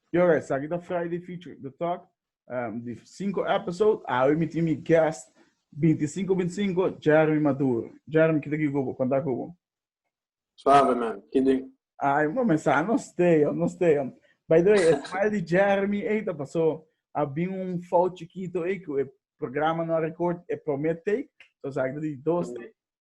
Yo guys, sa kita Friday feature the talk. Um, di cinco episode, awi mi tin mi guest 2525 Jeremy Maduro. Jeremy, kita ki kubo, konta kubo. Suave man, kidi. Ay, mo me sa, no stay, oh, no stay. oh. By the way, e smile di Jeremy, ey, ta pasó. A bin un fout chiquito, ey, ku e programa no a record, e promé take. So sa kita di dos take.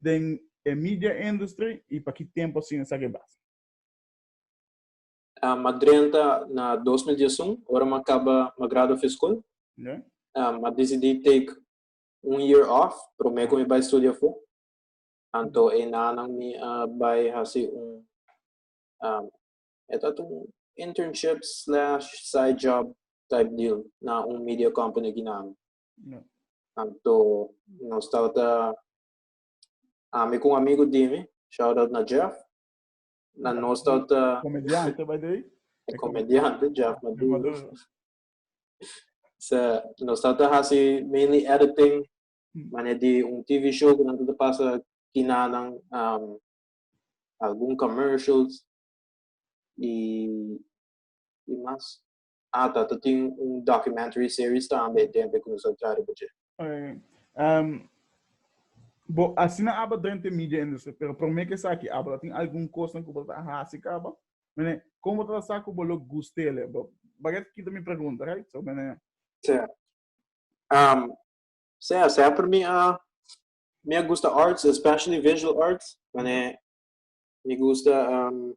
den e media industry y pa ki tempo asina sa ke basa. Ma drenta na dos mil dies un ora ma kaba ma grado fi skol ma disidi take un year off prome ku mi bai studia afo anto e nanan mi a bai hasi un e tat un internship slash side job type deal na un media company aki nanan Anto nos tabata ami con amigo dimi, shout out na Jeff. Na nos tabata Comediante, by the way. comediante Jeff Maduro. So, nos tabata hasi mainly editing, mane di un TV show que nan tabata pasa kinanan, um, algun commercials y, y mas. Ata ta tin un documentary series tambe den be ku nos a tra riba dje. Ehm, bo asina aba drente media industry, pero prome ke saki aba ta tin algun kosnan ku bo ta hasi kaba? Mene, kon bo ta sa ku bo lo gustele? Bo baga ta kita mi pregunta, right? So mene. Sea, ehm, sea semper mi a mi a gusta arts, especially visual arts. Mene, mi gusta ehm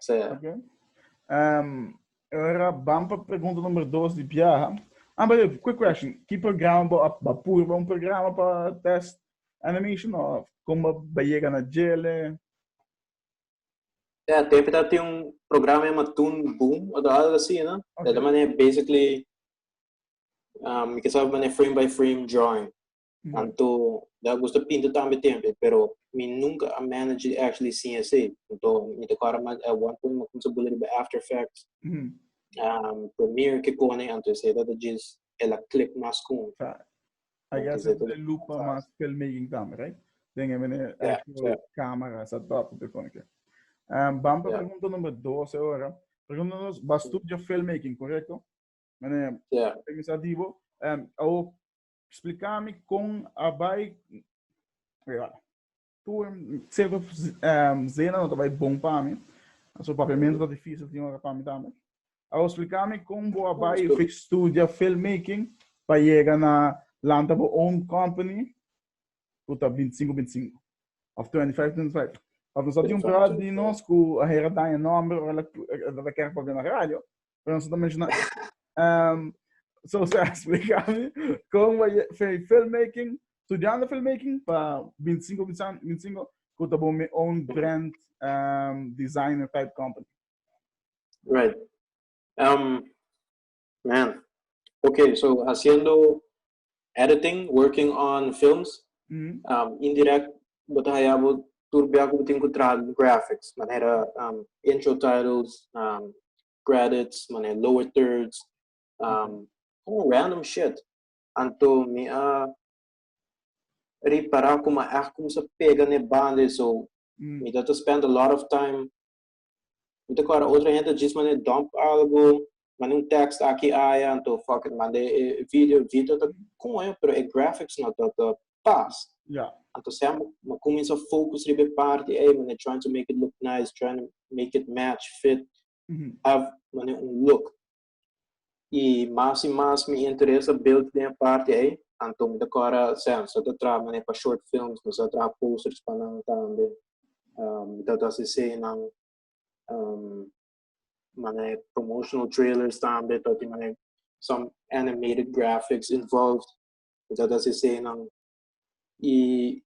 Sí. Ok. Um, ora bam pa pregunta nummer 2 di Pia. Amber, quick question. Ki programa ba ba pur ba un programa pa test animation of como ba llega na jele? Ja, tempo dat tem um programa chama Toon Boom, ou algo assim, né? Okay. Da maneira, basically, um, que sabe maneira frame by frame drawing. Anto da gusta pinta tambe tempe, pero mi nunca a manage di actually sin esey. Anto mi ta kora mas at one point mi kumsa bula riba After Effects, um, Premiere ke kone, anto esey ta ta djis el a click mas kun. I guess e ta look pa mas filmmaking tambe, right? Den e manera actual camera setup e kone ke. Um, bam pa pregunta number dos e ora. Pregunta nos, ba studio filmmaking, correcto? Manera, mi sa di bo, um, awo Spliká mi kon a bai tur sierto zena no ta bai bon pa mi. So papiamentu ta difísil tin ora pa mi tambe. Awor spliká mi kon bo a bai studia filmmaking pa yega na lanta bo own company ku ta binti sinku binti sinku òf tuenti faif tuenti faif. Òf nos a tin un bròda di nos ku a hera daña nòmber ora el a kere pa bira na radio. pero nosotros mencionar. Um, so se explica con fue filmmaking, estudiando filmmaking para 25, 25, que te mi own brand um, designer type company. Right. Um, man. Okay, so haciendo editing, working on films, indirect bo ta haya bo tur bia ku bo tin ku traha graphics, manera intro titles, credits, manera lower thirds, como random shit. Anto mi a ripara kuma a kumsa pega n'e banda ei so mi ta ta spend a lot of time Mi ta kòrda otro hende djis manera dump algu, manda un tèkst aki aya, anto fuck it, manda e video, video ta koe pero e graphics no ta ta pas. Ya. Anto sea mi mi kuminsá fokus riba e parti ei, manera trying to make it look nice, trying to make it match, fit, have manera un look. y mas y mas mi interesa build den e parti ey, anto mi ta cora sea mi sa ta traha mane pa short films, mi sa ta traha posters pa nan tambe, mi ta ta CC nan mane promotional trailers tambe ta tin mane some animated graphics involved, mi ta ta CC nan y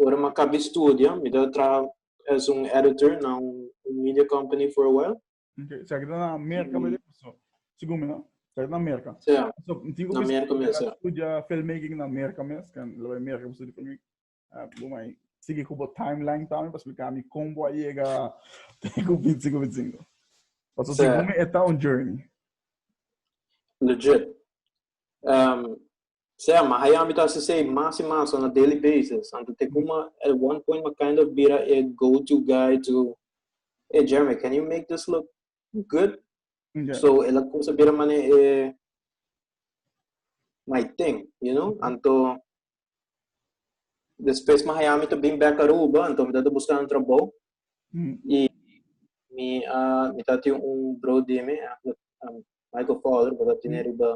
ora mi a caba e studio mi ta traha as un editor na un media company for a while Okay, sa kita na Amerika mm. so, segun mi, no? Sa kita na Amerika. Sí. So, tingo na Amerika mes, sí. Studia filmmaking na Amerika mes, kan lo vai Amerika pa studia filmmaking. Uh, lo mai sigi ku bo timeline tambe pa explicar mi como a llega tengo 25 25. Paso sí. segun mi eta un journey. Legit. Um, Selma, Ai ami ta hasi esei mas i mas on a daily basis, anto te kuma at one point mi a kind of bira e go to guy to Hey Jeremy, can you make this look good? Yeah. So el a kumsa bira mane e my thing, you know? Anto despues mi haya mi ta bin back Aruba, anto mi ta ta buscando un trabou Mm. i mi a mi ta tin un bro di mi, eh, um, Michael Fowler, bo ta tin riba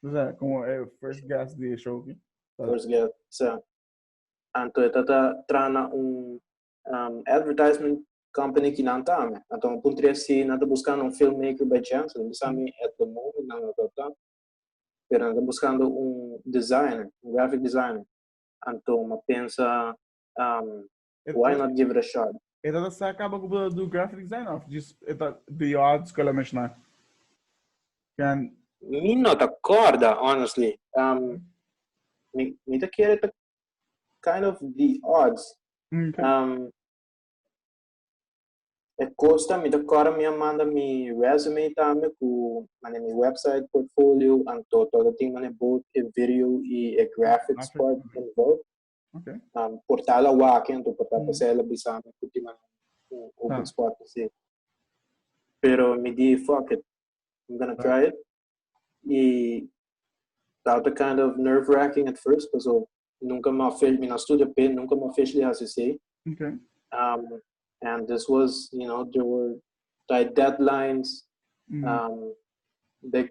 O sea, como el first guest de Shoki. First guest, o sea. Anto eta ta trana un um, advertisement company ki nan tame. Anto un punto tres si nan ta buscando un filmmaker by chance, nan bisa mi at the moment nan ta ta. Pero nan ta buscando un designer, un graphic designer. Anto ma pensa um, Why not give it a shot? E ta ta sa kaba ku bo ta du graphic design òf djis e ta di e hòt skol a meshná? Can. Mi no ta kòrda, honestly. Um, mi, mi ta kere ta kind of di odds. Okay. Um, e kosta mi ta kòrda mi a manda mi resume tambe ku mane mi website, portfolio, anto todo tin mane both e video i e graphics part involved. Okay. Um, portal a wak, ento portal mm. pasela bisa me kuti man un open ah. spot si. Pero mi di fuck it. I'm gonna try it. E that was kind of nerve wracking at first, because so, nunca me fish, me na studio pin, nunca me fish li HCC. Okay. Um, and this was, you know, there were tight deadlines, mm. um, big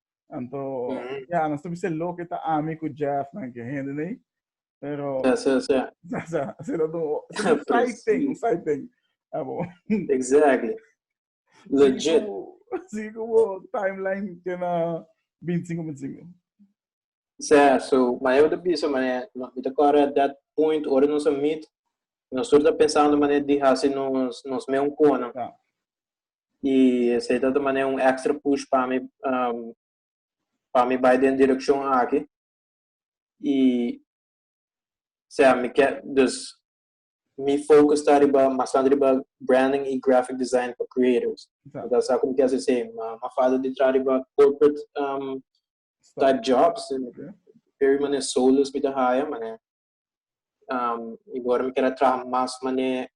Anto, ya, no sabi se lo que ta ami cu Jeff, nan que hende nei, pero, Ja, ja, ja. sa, sa, se dat un, se dat un side thing, un side thing. Abo, Exactly. sigui Legit. cu, sigui cu bo timeline que na 25, 25. Sea, so Maeva ta bisa manera, no, mi ta kore at that point ora nos a meet, nos tur ta pensando manera di hasi nos, nos meu un kona. Ja. Y esei ta ta manera un extra push pa mi, um, pa mi bai den direccion aki. Y, sea, mi ke, dus, mi focus ta riba, bastante riba branding y graphic design pa creators. Ja. Mi ta sa como ke hasi esei, ma, ma fada di traha riba corporate, um, Start jobs. Peri mane solos mi ta haya, mane um, i gora mi kera traha mas mane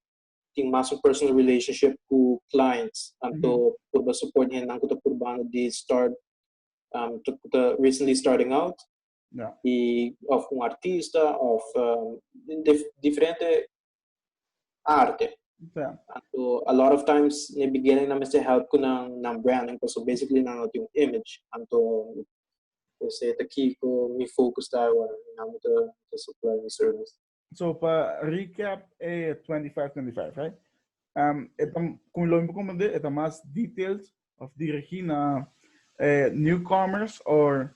tin mas un personal relationship ku clients. Anto mm -hmm. purba support hendan ku ta purbando di start, um, ta, ta recently starting out. Yeah. I, of un artista, of um, dif diferente arte. Yeah. So a lot of times in the beginning, I'm to help with na branding because so basically now do image and to say the key for me focus that one and I'm to, to supply the service. So for recap, eh, 25, 25, right? Um, etam, como lo mismo como de, etam más details of dirigir na eh, newcomers or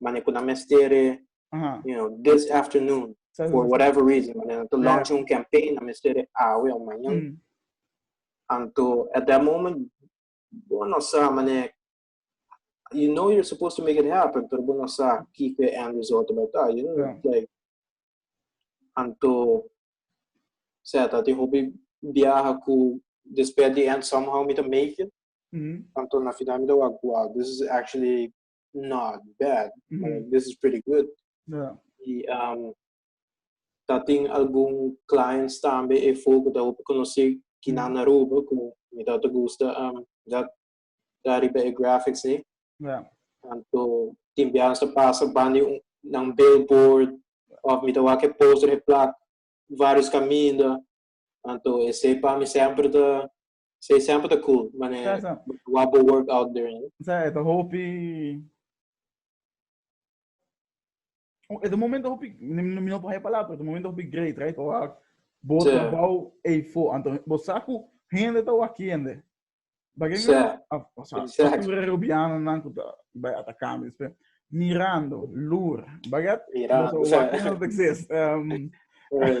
mane ku nan mester e you know this afternoon for whatever reason mane nan to launch un campaign nan mester e awe o mañan mm. anto at that moment bo no sa mane you know you're supposed to make it happen pero bo no sa ki ke end result by ta you know yeah. like anto seta ti hobi viaja ku despedi and somehow me to make it. Mm-hmm. Tanto na final me to wow, this is actually not bad, mm -hmm. uh, this is pretty good. Yeah. Y um, dat in algun clients tambe e foco da hopi conoci que mm -hmm. na Aruba, que me dat gusta um, dat da riba e graphics ni. Yeah. Tanto timbian sa pasa bani un, nan billboard, of mi da wake poster e plak, varios caminda. Tanto ese pa mi sempre da Su example ta cool, mane Sa, sa. wap bo work out der, no? Sa e ta hopi e ta momento hopi mi mi no por haya palabra pero e ta momento hopi great right o a bo Sa. trabao ei fo anto bo sa ku hende ta wa kende bagay mi Sa. a o sa Exact. satura rubiano nan ku ta bai ata kambio espe mirando lur bagay at Mira, boso o sa. wa kende ta exist um, Right.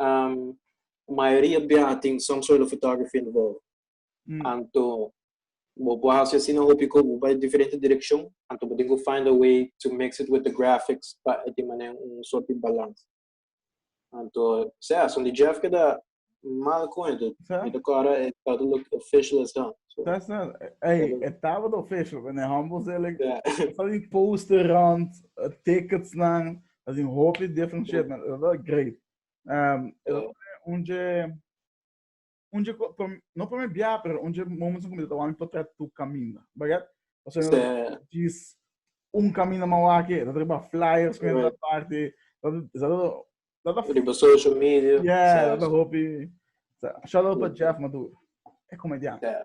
um, mayoria bia tin some sort of photography involved. Mm. Anto, bo por hacer así na hopi ko bo bai diferente direction, anto bo tengo find a way to mix it with the graphics pa e tin manen un sort di balans. Anto, sea, son di Jeff que da mal cuento. Sa? Mita cara e tata look official as hell. So, That's not. Hey, Yeah. het tava de official, but in humble zelig. yeah. Van die poster rond, eh, tickets lang. As in hopi different shit, man. Esa ta great. Um, esa oh. ta un je... Un je... No primer bia, pero un je moments in comida ta wami portret tu camina. Bagat? O sea, no, jis un camina mawake, dat riba flyers, kwenye dat party. Dat, esa ta... Dat ta... Riba social media. Yeah, dat ta hopi... Shout out pa Jeff Maduro. É comediante. Yeah.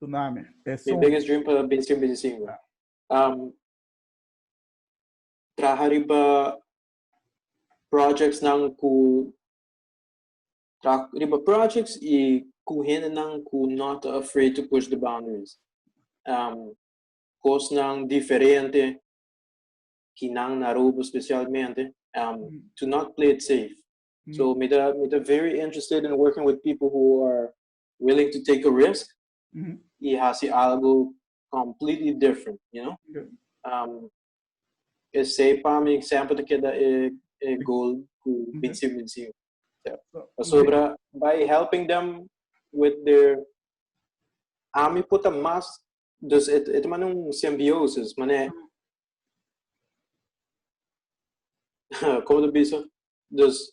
Tsunami. Mi biggest dream pa binti un binti sinku. Traha riba projects nan ku traha riba projects i ku hendenan ku no ta afraid to push the boundaries. Kosnan diferente ki nan na Aruba specialmente to not play it safe. So mi ta mi ta very interested in working with people who are willing to take a risk y haci algo completely different, you know. Yeah. Um, esey pa mi siempre te queda e, e goal cu binsi binsi. Yeah. Pasobra by helping them with their ami puta mas dus et et man un symbiosis, mane como te bisa? Dus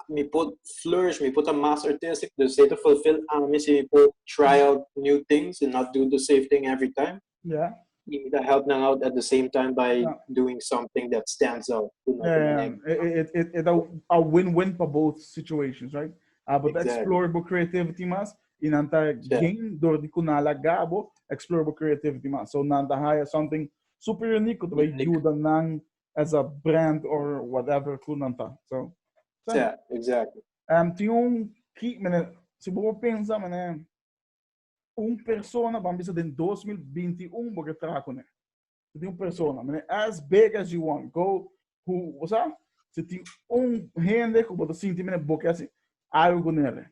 mi por flourish, mi por ta mas artistic, do se to fulfill ami si mi por try out new things and not do the same thing every time. Yeah. Y mi ta help nan out at the same time by yeah. doing something that stands out. You know, yeah, yeah. It, it, it, a, a win-win for both situations, right? Uh, but exactly. explore bo creativity mas, y nan ta yeah. gain door di kunala gabo, explore bo creativity mas. So nan ta hire something super unique, to ayuda nan as a brand or whatever cu nan ta. So, so yeah, exactly. Um, tin un ki, mene, si bo pensa, mene, un persona, van bisa den 2021, bo ke traha con Si tin un persona, mene, as big as you want, go, who, o sea, si tin un hende cu bo te sinti, mene, bo ke algo con ele.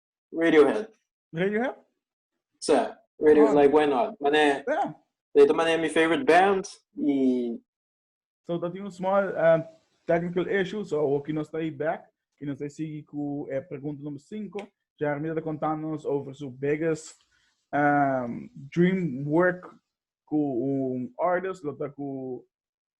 Radiohead. Radiohead? Sí, Radio, oh. like, why not? Mané, yeah. de esta manera, mi favorite band y... So, dat is un small uh, technical issue, so hope que no está aí back, que no está sigue com a eh, pergunta número 5. Jeremy está contando-nos over seu biggest um, dream work com um artist, lota com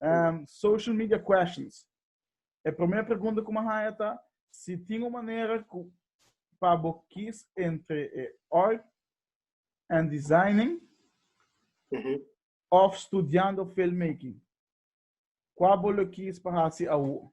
Um, social media questions. E primer pregunta ku ma haya ta si tin un manera ku pa bo kis entre e art and designing mm -hmm. of studiando filmmaking. Kwa bo lo kis pa hasi awo?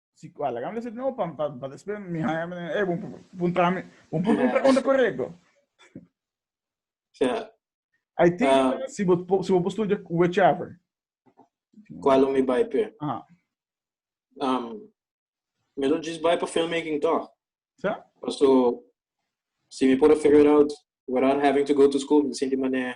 Si ku alagam le se no pa pa pa despe mi haya me e bon puntra mi bon puntra un pregunta correcto yeah. I think um, ah. si bo si bo studia whichever qual mi bai pe ah um me lo just bai pa filmmaking toch so so si mi por figure out without having to go to school me sinti mané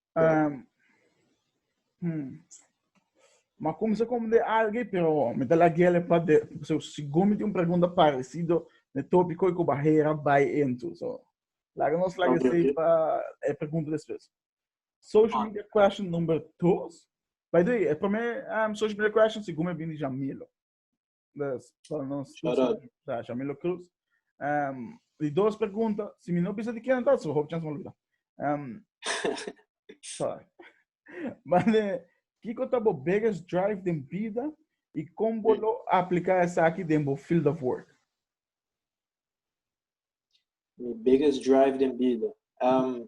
Um, hmm. Ma comienza como de alguien, pero me da la guía le pad de, so, si gomi de un pregunta parecido, de topi coi que bajera bai ento, so. Laga nos laga okay, okay. pa e pregunta después. Social ah. media question number 2. By the way, e primer um, social media question si gomi bini Jamilo. Bless. Para nos Shout out. José da Shamilo Cruz. Um, die dos pregunta, si mi no bisa di ken dat, so hoop chance me olvida. Um, sorry. Mane, Kiko ta bo biggest drive den vida y con bo lo aplica esa aquí den bo field of work. Mi biggest drive den vida. Um,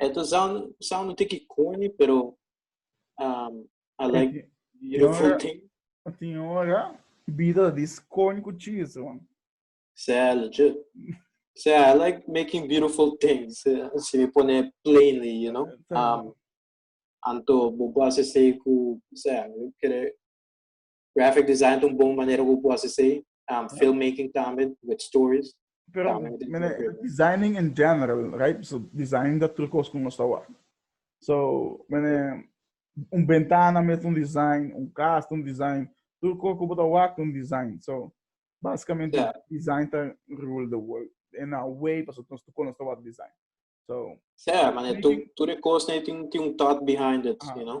Eto sound, sound no tiki corny, pero um, I like beautiful thing. Tem hora, vida de corny com cheese, man. Sé, legit. Sé, I like making beautiful things. Se me pone plainly, you know. Um, anto, bobo se sei ku, sé, kere, Graphic design ta un bon manera ku bo por hasi esei. Film making tambe with stories. Pero mene designing in general right so design ta otro kos ku nos ta wak so mene un bentana mes ta un design un kas ta un design tur kos ku bo ta wak ta un design so basikamente design ta rule the world in a way pasobra nos tur kos nos ta wak design so tur e kos tin un thought behind it you know.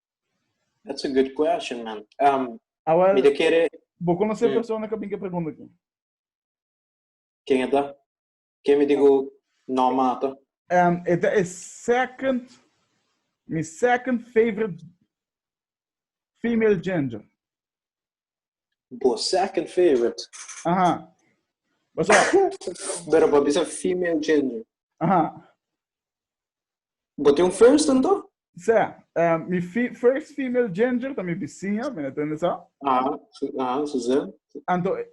That's a good question, man. Um, Awel, mi te kere... Bo konosé mm. persona ka bin ke pregunta ki? Ken eta? Ken mi digo no mata? Um, eta e second, mi second favorite female ginger. Bo second favorite. Aha. What's up? Pero pa bisa female gender. Aha. Bo tem un first tanto? Sê, eh, mi fi first female gender ta mi vizinha, me entende sa? Aha, su- aha, Suzanne. Anto, e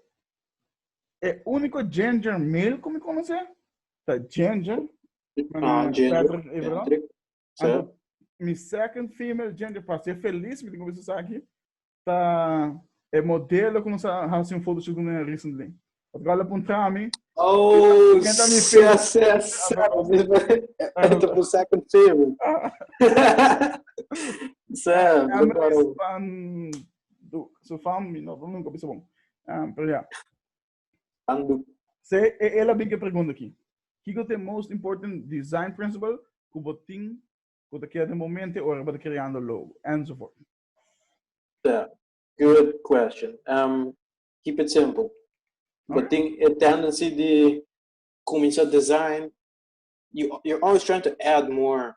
e único gender male que me conoce, ta gender, Ah, mané gender. Patrick, eh, perdón. Patrick. Sê. Anto, mi second female gender, para ser feliz, me tengo que besar aquí. ta e modelo ku nos a hasi un foto shut kunda recently. Of kal a puntra mi. Oh, Ken ta mi sa, favorite? sa, sa. Esta ta por second favorite. Sa, Cameras preparo. van do su fam, mi no nunca bisa bom. Um, pero ja. Ando. Se e ela bin ke pregunta ki. Kiko te most important design principle ku botin ku ta keda den bo mente ora bo ta kreando logo enzovoort. Yeah, good question. Um, keep it simple. Bo hmm. ting e tendency di kuminsá design, you, you're always trying to add more.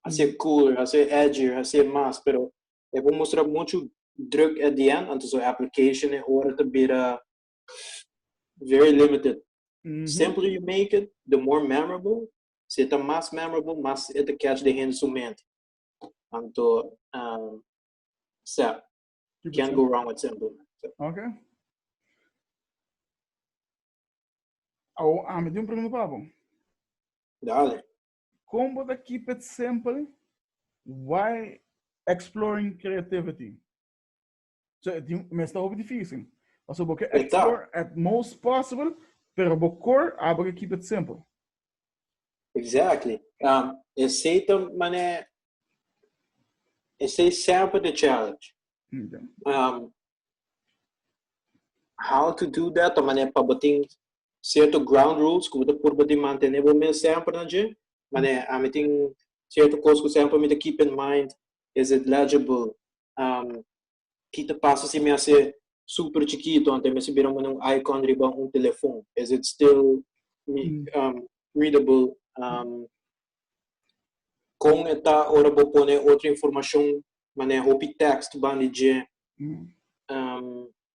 Hacer hmm. cooler, hacer edgier, hacer más, pero e bo mostrar mucho druk at the end, antes o application e ora te bira very limited. Mm -hmm. Simpler you make it, the more memorable. Se tá más memorable, más it catch the hands to mente. Anto, um, sep. Can't go wrong with simple. Okay. Oh, a mí un pregunta para vos. Dale. ¿Cómo te keep it simple? Why exploring creativity? So, e tin mester hopi difícil. Paso bo ke Eta. explore at most possible, pero bo core abo ke keep it simple. Exactly. Um, esei ta mané, esei sempre the challenge. Ja. Um, how to do that, ta mané pa bo tin cierto ground rules ku bo ta purba di mantené bo mes sempre na dje. Mané, a mi tin cierto kos ku sempre mi ta keep in mind. Is it legible? um, ki ta pasa si mi a ser super chiquito, ante mi a bira manda un icon riba un telefon. Is it still mm. um, readable? Um, con eta ora bo pone otra informacion, manejo pi text, bandije, mm. um,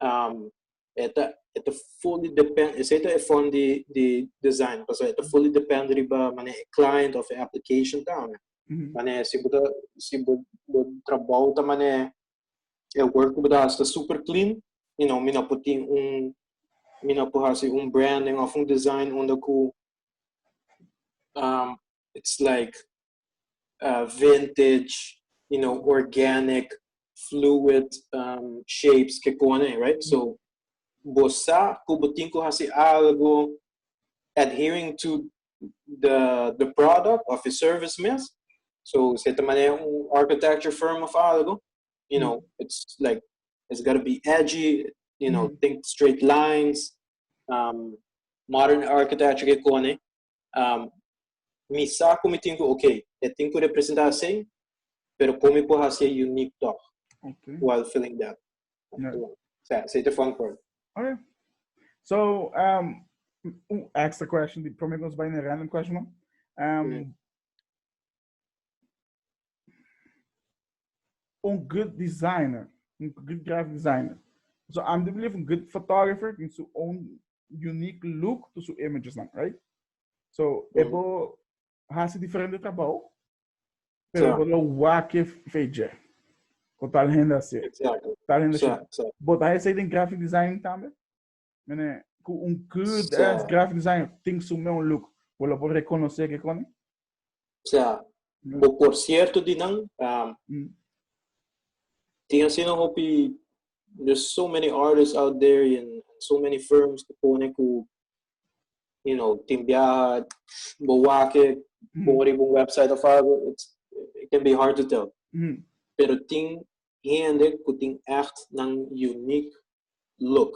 um, eta eta fully depend ese eta e fund di di design paso eta fully depend riba mane e client of e application ta mm -hmm. mane si buta si bu bu trabajo ta mane e work buta hasta super clean you know mina putin un mina pu hasi un branding of un design onda ku um it's like vintage, you know, organic, fluid um shapes ke kone, right? So bo sa ku bo tin ku hasi algu adhering to the the product of e service mes. So se ta maneha un architecture firm of algu, you know, it's like it's gotta be edgy, you know, think straight lines, um modern architecture ke kone. Um, mi sa ku mi tin ku ok, e tin ku representa asin, pero kon mi por hasi e unique toch okay. while filling that. Yeah. So, it's a fun part. Okay. So, um, extra question, the promise by a random question. Um, mm. un good designer, un good graphic designer. So I'm do believe un good photographer in su own unique look to su images lang, right? So mm. ebo hasi diferente trabajo, pero yeah. ebo lo wake feje. Ko tal hende asi. Exactly. Tal hende asi. Yeah. But I say in graphic design tambe? Mene, ku un good so, ass graphic design ting su meu look, bo lo por rekonosé ke koni? Sea, mm. bo por sierto di nan, um, mm. ting asina hopi, there's so many artists out there and so many firms ke pone ku, you know, ting biaha, bo wake, mm. bo riba un website of algo, it's, it can be hard to tell. Mm. Pero ting hende ku ting echt nan unique look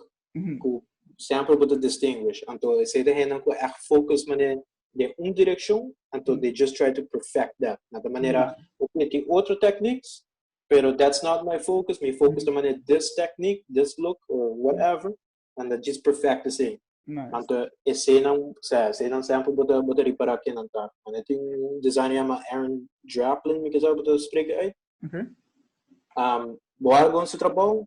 ku sèmpel bo ta distinguish anto esei ta hendenan ku ègt focus manera den un direkshon anto they just try to perfect that nan ta manera okay tin otro techniques pero that's not my focus mi focus ta manera this technique this look or whatever nan ta just perfect esei anto esei nan osea esei nan sèmpel bo ta bo ta ripara ke nan ta manera tin un designer yama Aaron Draplin mi kisa bo ta spreka ei bo a algun su trabou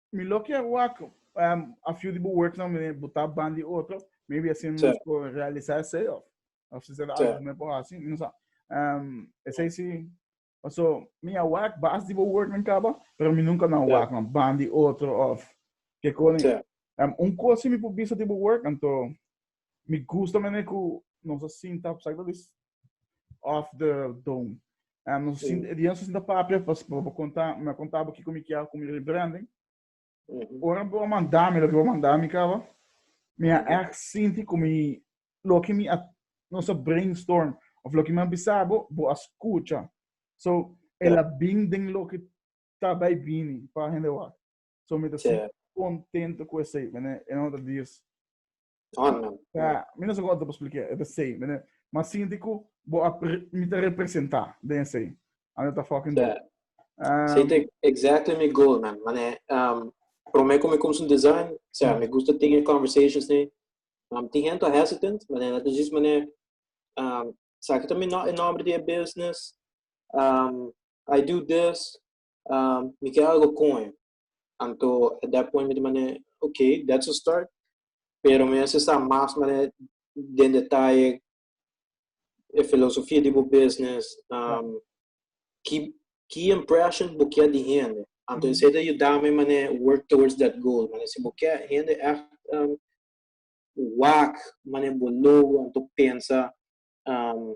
Mi lo kier wak um, a few di bu works no mi buta ban di otro, maybe así mi sí. por realizar ese of of si será algo me por así, mi no sa. Um, ese sí. So, mi a wak bas di bu work men kaba, pero mi nunca na wak no ban di otro of que koni. Um, un cosa mi por bisa di bu work, anto Mi gusta manera cu nos a sinta op sakta dis off the dome. Um, nos sí. sinta, nos sinta papia pas pa conta, me contaba que como que é como ele branding. Uhum. Ora bo mandar me lo que bo mandar me cava. Me a echt sinti como lo que me a nos a brainstorm of lo que me bisabo bo a escucha. So ela binding lo que tá bij bini pa gente wat. So mi ta si contento cu esey, mene, en otra dios. Amen. Ja, mi no sé cómo te expliqué, es esey, mene. Ma sinti cu bo a mi ta representa den esey. Ano ta fucking dope. Um, Say te exactly mi goal, man. Mane, um, prome cu mi cum sun design, o sea, mm. mi gusta tener conversations ni. Um, ti gente hesitant, mane, dat is just mane, um, sa que también no, en nombre de business, um, I do this, Um, mi ke algo con e. Anto, at that point, mi di mane, okay, that's a start. Pero mi hace sa mas mane den detalle e filosofia di bo business, um, ki, ki impression bo kia di hende. Anto, mm. sete ayudame mane work towards that goal. Mane, si bo kia hende echt um, wak, mane bo logo, anto pensa, um,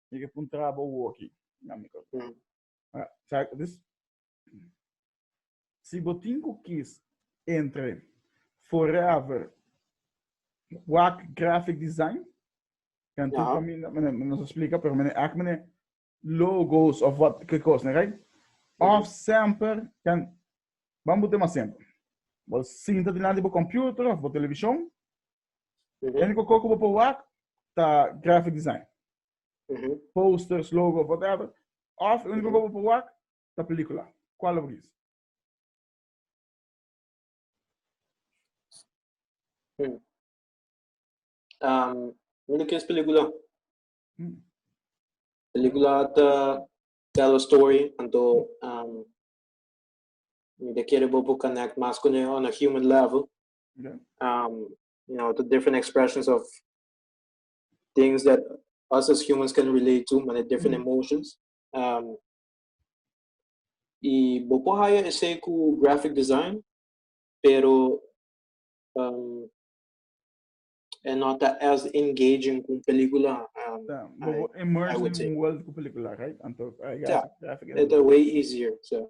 Mi ke pun traba u oki. Na mi kos. Mm. Ah, sa- dus, si bo tin ku kis entre Forever Wak Graphic Design, kan tu Aha. pa mi, no- mene- nos explica, pero mene act mene logos of wat ke kos, ne, right? Of semper kan bambu tema semper. Bo sinta dilanti bo computer of bo television, E único co cu bo por wak ta graphic design. Posters, logo of whatever. Of e único co bo por wak ta película. Cual lo bo kies? Mi lo kies película. Película ta tell a story, anto mi ta kere bo por connect mas con e on a human level. Okay. Um, you know, the different expressions of things that us as humans can relate to, many different mm -hmm. emotions. Um, y bopo haya ese ku graphic design, pero um, é not as engaging com película. Um, tá, bobo I, immerse I in world com película, right? Então, I got yeah, graphic. It's way easier. So,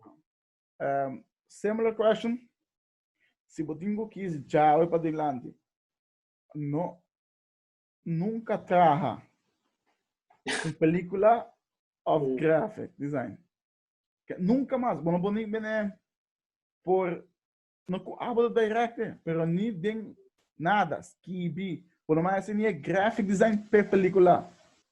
um, similar question. Si bo tin cu kis djawe pa delanti, no nunca traha un pelicula of graphic design. Nunca mas. Bo no por ni bene por, no cu abo ta directe, pero ni den nada, skibi. Bo no mas haci ni e graphic design p'e pelicula.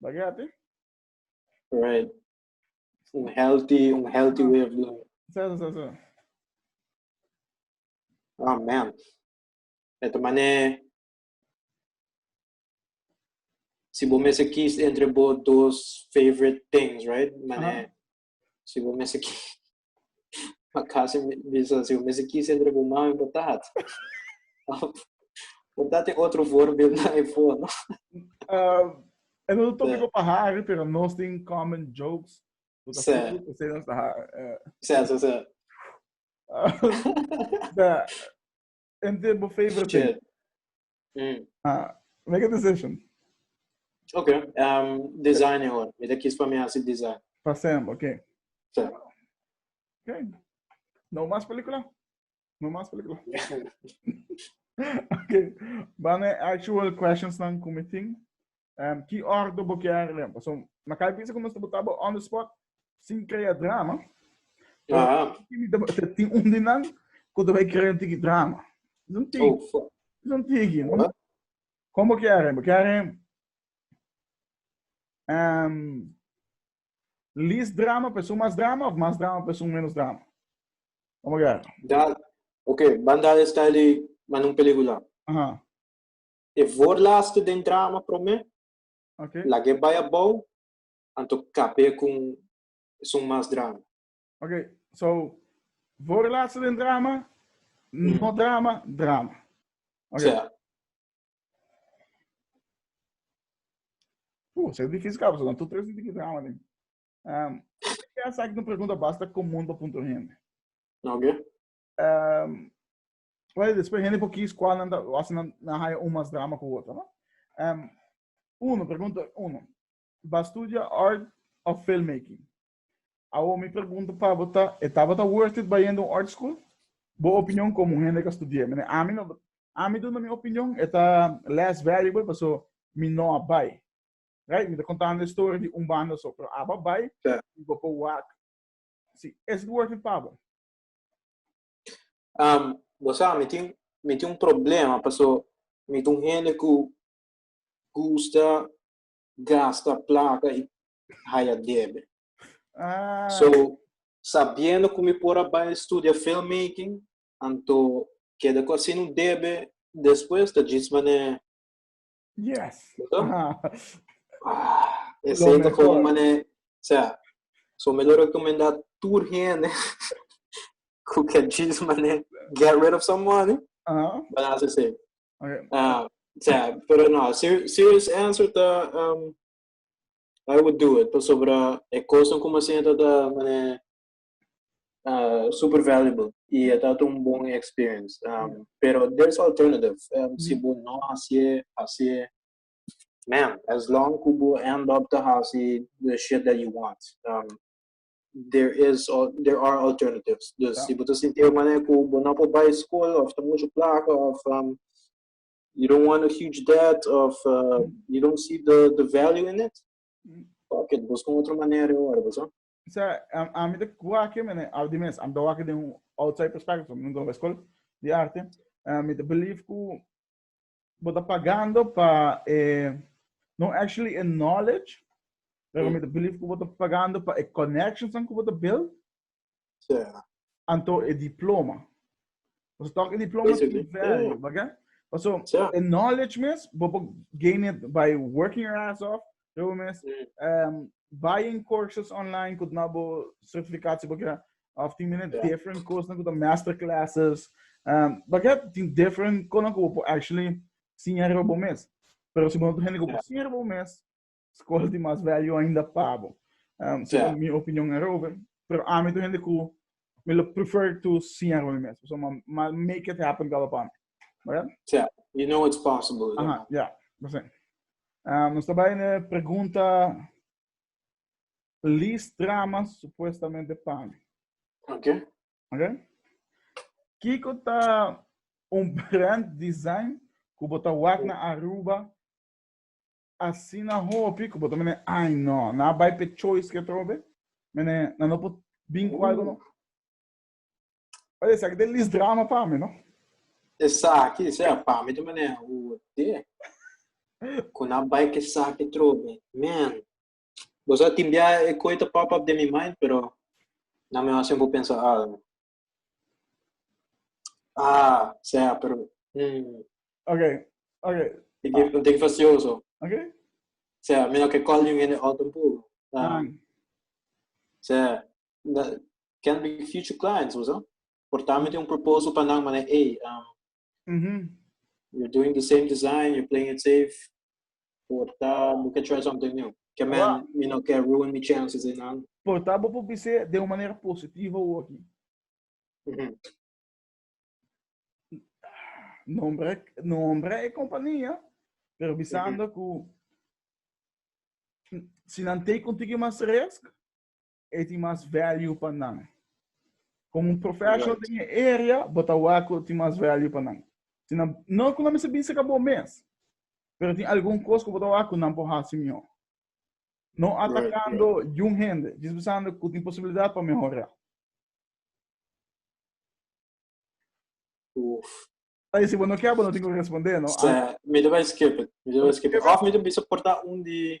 Ba get it? Right. Un healthy, un healthy way of living. Zo, zo, zo. Oh man. Eto mane si bo mese kies entre bo dos favorite things, right? Mane uh -huh. Si bo mester ki... Ma kasi bisa, si bo mester kis entre bo mami bo tat. Bo tat tin otro voorbeeld na e for, no? Uh, en un tópico pa Harry, pero nos tin common jokes. Bo ta full, bo se nos ta Harry. Sa, sa, sa. En te bo favorite Shit. Mm. Ah, make a decision. Ok, um, design e hoor. Mira kies pa mi hace design. Pa Sam, ok. So. Ok. No mas película. No mas película. ok. Bane actual questions nan committing. Um, ki ordo bo kier lem? Paso, na kai bisa ku nos ta bota bo on the spot, sin krea drama. Ah. Tin un di nan, ku ta bai krea un tiki drama. Is un tiki. Oh, is un tiki. Uh-huh. Kom bo kier lem? Bo kier lem? Um, lis drama, pesun mas drama, of mas drama, pesun menos drama? Kom bo kier? Da, ok, banda style di man un pelikula. Aha. Uh-huh. E voorlaatste den drama promé, Okay. lag'é bai abou, anto kap'é ku un esun mas drama. Okay, so, voorlaatste den drama, no drama, drama. Okay. Sea. Puh, esei difísil kaba, so nan tur tres di tiki drama den. Ehm, esaki ta un pregunta basta komun pa punto hende. Okay. Um, well, después hende por kies cuál nan hace nan haya un más drama cu otro, no? Um, uno, pregunta uno. Va studia art of filmmaking. Awo mi pregunta pa bota, etaba ta worth it bayendo un art school? Bo opinion como hende ka studia. Mene, ami no, ami duna mi opinion, eta less valuable, paso mi no a bay. Right? Mi ta contando de story di un banda so, pero aba bay, mi go pa wak. Si, is it worth it pa bo? Um, bo sa, mi tin, mi tin un problema, paso mi tin un hende ku gusta gasta plata i haya debe. Ah. So, sabiendo ku mi por a bai studia filmmaking, anto keda ku asin un debe, despues ta djis mané Yes. Ah. Ah, ese ainda foi um mané, sea, so melhor recomendar tur hende who can choose mané get rid of some money. Uh -huh. But as I say. Okay. Uh, sea, pero no, ser, serious answer ta um, I would do it. Pasobra e cosa como assim tá mané uh, super valuable y e ta un bon experience. Um, pero there's alternative. Um, si bo no hace, hace, man, as long ku bo end up to hace the shit that you want. Um, there is there are alternatives. Dus yeah. si bo te sinti een manier ku bo no po bij school of te mucho placa of um, you don't want a huge debt of uh, you don't see the the value in it. Mm. Fuck it, busca outra maneira agora, pessoal. sa a, a mi te kuake mene al di mes am do wake den outside perspective so nunca ba school di arte a mi te believe ku bota pagando pa eh, no actually a knowledge pero mi te believe ku bota pagando pa a connections an ku bota build yeah. Anto e diploma. Paso tok e diploma Eso tin value, oh. baga? Paso so, e knowledge mes, bo por gain it by working your ass off, yo mes, mm. um, buying courses online, kut na bo certificatie bo kira, of tin mine yeah. different courses, kut master classes, um, baga tin different, kono ko bo actually sinyar bo mes. Pero si bo no tin hende ko bo sinyar bo mes, Skol tin mas value ainda pa bo. Um, so yeah. mi opinion erover. Pero ami to hende ku mi lo prefer to see a rol mes. So ma, ma make it happen kaba pa mi. Right? Yeah. You know it's possible. Aha, yeah. yeah. That's it. Um, nos trabalha na pergunta Liz Trama, supuestamente para mim. Ok. Ok? Kiko tá um brand design que botar wak na Aruba Asina hopi ku bo ta mene ai no, na bai pe choice ke trobe. Mene na no por bin ku algo no. Oye, esaki ta lis drama pa mi, no? Esaki, sea, pa mi ta mene hote ku na bai ku esaki trobe. Man, bo sa tin bia e koi ta pop up den mi mind, pero nan mihó sin bo pensa algo. Ah, sea, pero. Mm. Ok, ok. Ik heb een ding facioso. Oké. Okay. Sea, mira que call you in the autumn pool. Uh, ah. Sea, that can be future clients, was Portame tem um propósito para não, mas é, um, Mm -hmm. You're doing the same design, you're playing it safe. Porta, we can try something new. Que man, wow. you know, can ruin my chances in nada. Porta, vou publicar de uma maneira positiva ou aqui. Mm -hmm. Nombre, nombre é companhia, pero visando mm -hmm. que se não tem contigo mais risco, e tin mas value pa nan. Como un professional right. den e area, bota waku tin mas value pa nan. Si nan, no ku nan misa bisa ka bo mes, pero tin algun kos ku bota waku nan po hasi mihor. No atacando right, right. yun hende, jis besando ku tin posibilidad pa mehora. Uf. Aí, se não quer, não tem como responder, não? Sim, me deu skip it, me deu skip it. Of me deu bisa portar um de...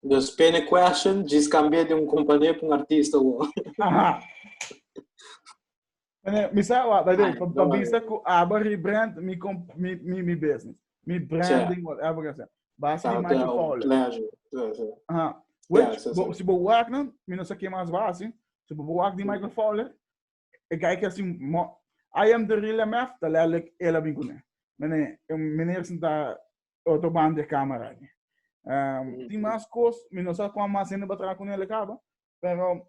Dus pene question, djis cambia di un companhia pa un artista wow. Aha. Mene, mi sa wa, baby, pa, pa bisa ku aba rebrand mi kom mi mi mi business. Mi branding whatever ka sa. Ba sa ma to follow. Aha. Which bo, si bo wak na, mi no sa ke mas basi. Si bo wak di Michael Fowler, E guy kia sin mo I am the real MF, ta lelijk ela bin kuné. Mene, meneer sin ta otro band de camera aquí. Um, tin mas cos, mi no sa cuán mas gente va trabajar con él acaba, pero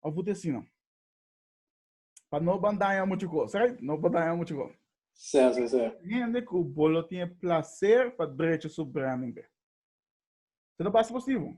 of usted sí no. Pa no van daña mucho cos, right? No van daña mucho cos. Sí, sí, sí. Gente que bolo tiene placer para derecho su branding. Se no pasa positivo.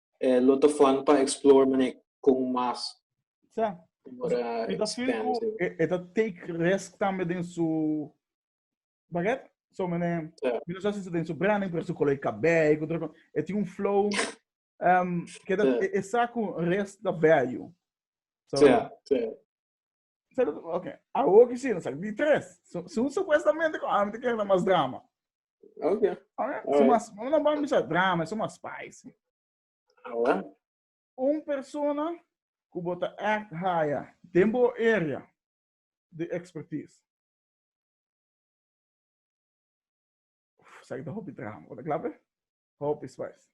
E lo ta fun pa explore manera con mas. Sa. E ta feel cu e ta take risk tambe den su baguette. So mene mi no sa si ta den su branding pero su color di cabey cu otro cosa. E tin un flow um ke ta e sa cu rest ta value. So Sabi, ok, awor ki sino, sabi, di tres. So, so supuestamente ko ami te kere na mas drama. Ok. Ok, so mas, no na bambi sa drama, so mas spicy. Awa. Un persona ku bota act haya den bo area de expertise. Uf, sa kita hopi drama, bota klape? Hopi spicy.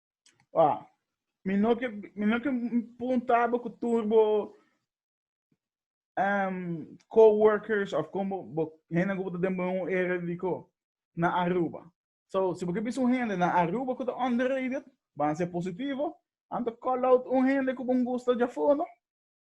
Ah, mi no ke mi no ke punta bo ku tur bo um, co-workers of como bo hende ku den un area di ko na Aruba. So, si bo ke bisu hende na Aruba ku ta underrated, ban se positivo, anto call out un hende ku bon gusto ja fono.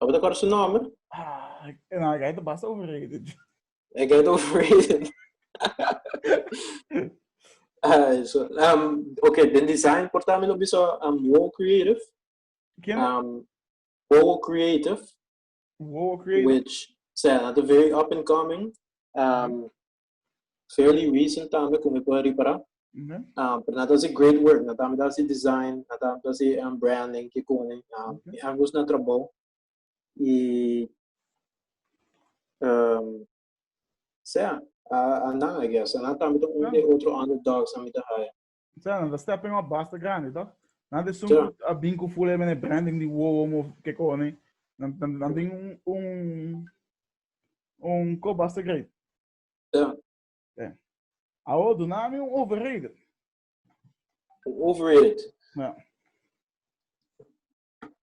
Lo bo ta kòrda su nòmber? Ah, no, e gai ta basta overrated. E gai ta overrated. Ay, so, um, ok, den design por también lo bisa um, Wow Creative. Ken? Um, Wow Creative. Wow Creative. Which, so, yeah, they're very up and coming. Um, Geel y Weasel tambe con me puede reparar. Uh -huh. um, pero nada hace great work, nada me hace design, nada me hace um, branding, que con um, okay. ambos na trabajo. Y um, sea, uh, andan, I guess. Andan también un de otro underdogs a mitad haya. Sea, nan ta step in a basta grande, toch? Nan te sumpo yeah. a bin ku full e mene branding di wowo mo ke kone. Nan, nan, nan ding un, un, un ko basta great. Yeah. Yeah. Awo, do nami un overrated. Un overrated. Yeah.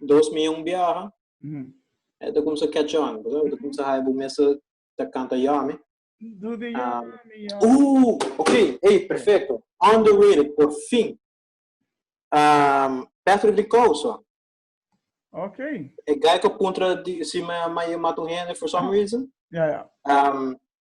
dos mi un biaha e ta kumsa catch on pasobra e ta kumsa haya bo mester ta kanta yummy uh ok ey perfecto on the way por fin um Patrick de Causa ok e guy ku puntra di si maya mata un hende for some reason um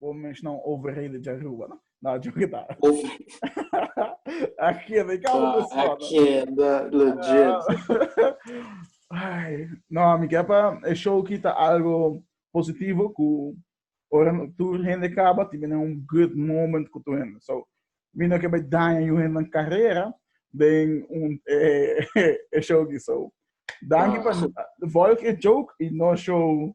Bo mencionar un overheden de Aruba, no? No, yo que tal. Aquí, de ah, cabo Aquí, de legit. Ay, no, mi capa, el show quita algo positivo cu ora tu gente caba, tiene un good moment con tu gente. So, mi no que me daña yo gente en carrera, den un eh, eh, show que so. Dank je ah. van de volk een joke en no show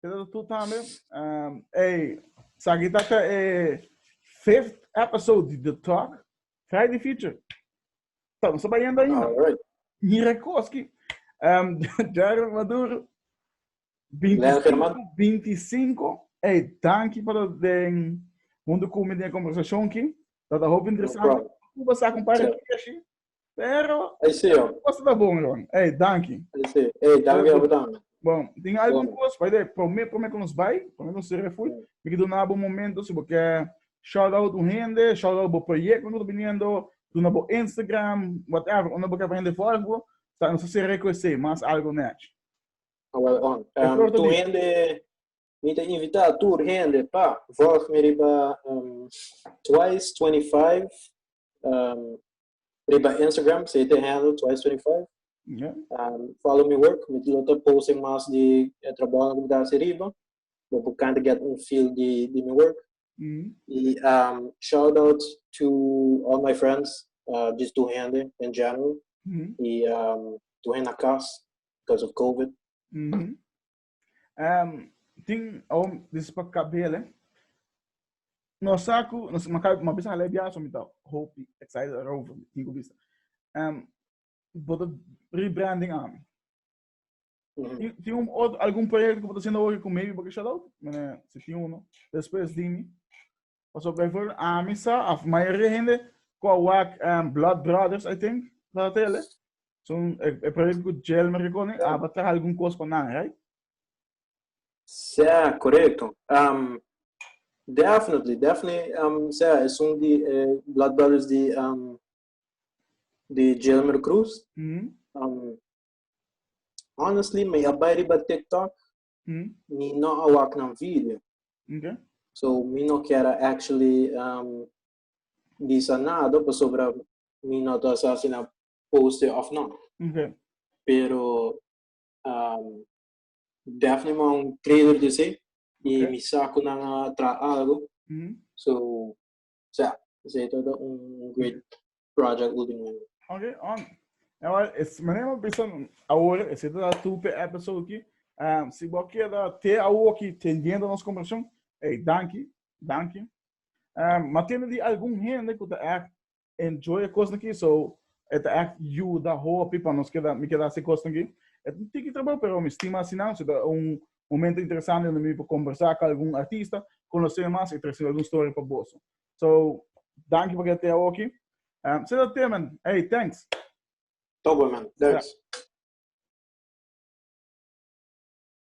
Pero tú también, um, hey, aquí está el eh, fifth episode de The Talk. Trae de feature. Estamos yendo ainda. Right. Mirakoski, um, Jared Maduro, 25, 25. Hey, danke para de mundo comigo de conversação aqui. Tá da hobby interessante. Cuba sa compadre aqui, Pero, Ei, sí, oh. cos ta bon, Ron. Ei, danki. Ei, sí. Ei, danki abo tambe. Bon, tin algun Bon. cos, paide, prome, prome cu nos bai, prome cu nos sere fui, Bon. mi ke duna bo un momento, si bo ke shout out un hende, shout out bo proyecto cu ta biniendo, duna bo Instagram, whatever, unda bo ke pa hende volg bo, ta, nos ta sere cu esei, mas algo nech. Awel, on. Em, Flor ta tu di. hende, Mi ta invita tur hende pa vòt mi riba um, twice 25 um, riba Instagram, se te handle twice 25. Yeah. Um, follow me work, mi lo ta posting mas di eh, trabalho que dá se riba. Bo por can't get un feel di di mi work. Mm. E um, shout out to all my friends, uh, just to hende in general. Mm. E um, to hende na cas because of COVID. Mm. Um, tin, om, dis pa kabele. No saku, no ma kai, ma bisa halai biasa mita hopi excited erover, tin ku bisa. Um, boto rebranding am. Tin, tin um, ot, algun proyekto ku boto sendo hopi ku maybe boto shout out, mene, se tin uno, después dimi. Pasobra bay for ami sa of mayoria hende ku a wak um, Blood Brothers I think sa tele. So e, e proyekto ku Jelmer ke koni aba traha algun kos pa nan, right? Sea, correcto. Um, definitely, definitely, um, sea, es un di eh, Blood Brothers di, um, di Jelmer Cruz. Mm. Um, honestly, me abai riba TikTok, Mi no a wak nan video. Oke. So mi no kier a actually bisa nada pasobra mi no ta sa si nan poste of no. Oke. Pero Daphne manda un trailer di esei y mi sa cu nan a traha algo. So sea, ese es todo un great project último año. Ok, on. Agora, es maneira mo bisa agora, ese es todo tu pe episode aqui. Um, si bo queda te agora aqui teniendo nos conversación, hey, danki, danki. Um, ma tiene di algún gente que ta echt enjoy a cosa aqui, so, et echt juda hopi pa nos queda, mi queda se cosa aqui. Et un tiki trabajo, pero mi estima así nan, so, un, momento interesante donde mi por conversa cu algun artista, conoce mas y traci algun story pa boso. So, danki pa keda tea oki. Um, se dat te, man. Hey, thanks. Tobo, man. Thanks. Yeah.